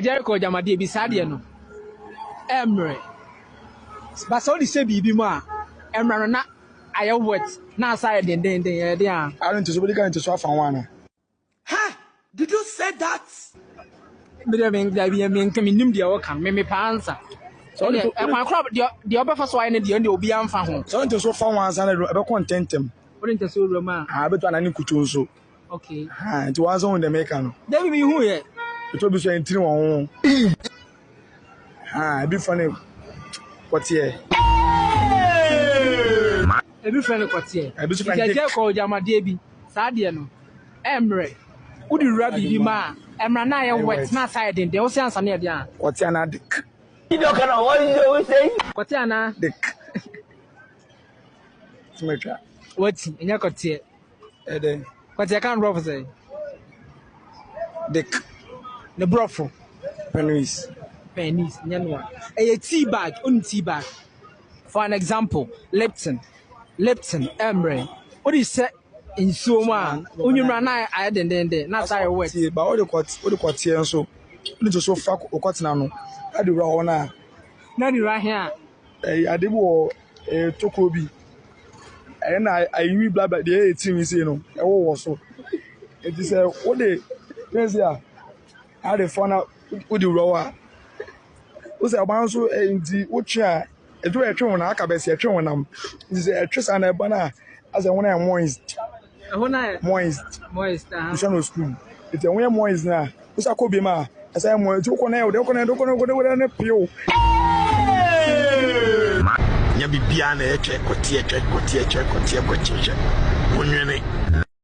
Jericho agyamadeɛ bi saa deɛ no ɛmmerɛ ba sɛ wode hyɛ biribi mu a ɛmmerɛ no na ayɛ wet na asa ayɛ dendenden ɛyɛ den a. Are nti so wobɛdi kan nti so afa ho anaa? Her, did you say that? Me deɛ me dabi me nka me nim deɛ ɔka no me me paa nsa. So deɛ ɛkwan kora deɛ deɛ ɔbɛfa so ayɛ ne deɛ deɛ obi anfa ho. So nti so fa ho ansa na ɛbɛkɔ ntɛntɛm. Wode nti so wura mu a. Ah bɛtɔ anaa ne nkutu nso. Okay. Ha, nti wɔn nso hu dɛm eka no. Dabi mi hu yɛ. Etu obi so yɛn tiri wɔn ho. Ha, ebi fɔ ne kɔteɛ. Ebi fɔ ne kɔteɛ. Ebi so fɔ ne kɔteɛ. Nkyɛnkyɛn kɔ ɔgyamadeɛ bi. Saa deɛ no, ɛmmerɛ. Wodi wura biribi ma a, ɛmmerɛ na ayɛ wet na asa ayɛ denden. Wosi ansa no yɛ deɛ a. Kɔteɛ anaa dek. Kɔteɛ anaa. Dek. Tumi atwa. Wati, ɛnyɛ kɔteɛ. Ɛdɛ. Kwati ɛka no brɔfo sɛ. Dek. Ne brɔfo. Penis. Penis nyɛ no a. Ɛyɛ tea bag onim tea bag. For an example, Lipton. Lipton ɛmmerɛ. Wode hyɛ nsuo mu a wonwumra na ayɛ dendenden na asa ayɛ wet. Ba wode kɔteɛ nso wode nso fa wokɔtena no na de wura hɔ no a. Na de wura he a. Ɛyɛ ade bi wɔ ɛyɛ tokuro bi. Ɛyɛ na ayiri bi blabla deɛ ɛyɛ ti no sei no ɛwowɔ so. Ɛnti sɛ wode pɛn sei a na wode fa na wode wura hɔ a, wohu sɛ ɔbaa no nso ɛnti wotwe a aduru a ɛtwe wo no aka bɛsi ɛtwe wo nam. Nti sɛ ɛtwe saa na ɛba no a asɛ wo ho ayɛ moist. ɛhɔ no ayɛ moist moist aha wohyɛ no screw nti ɛho yɛ moist na wosa kɔ biem a ɛsɛ yɛ moist nti wokɔ na yɛ wode wokɔ na yɛ wokɔ na wode wode ne pew ma nya biribiara na ɛtwɛ kɔteɛ twɛ kɔteɛ twɛ kɔteɛ kɔteɛ twɛ wonwene